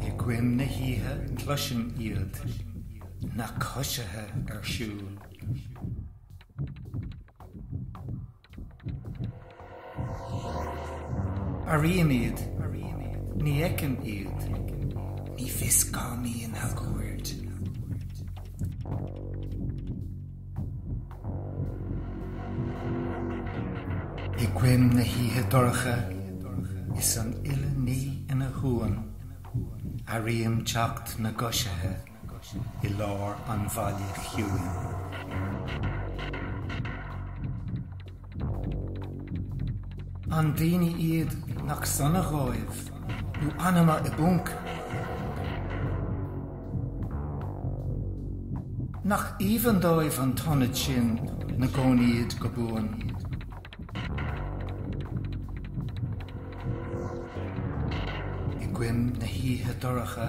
I gcoim na hoíche cloisim iad, na coisithe ar siúl. Airím iad, ní fheicim iad, ní fios cá mbíonn a gcuaird. I gcoim na hoíche dorcha is an uile ní ina shuan, airím teacht na gcoisithe i lár an bhaile chiúin. An daoine iad nach sona dhóibh nó anama i bponc? Nach aoibhinn dóibh an t-ionad sin na gcónaíd go buan? I gcoim na hoíche dorcha.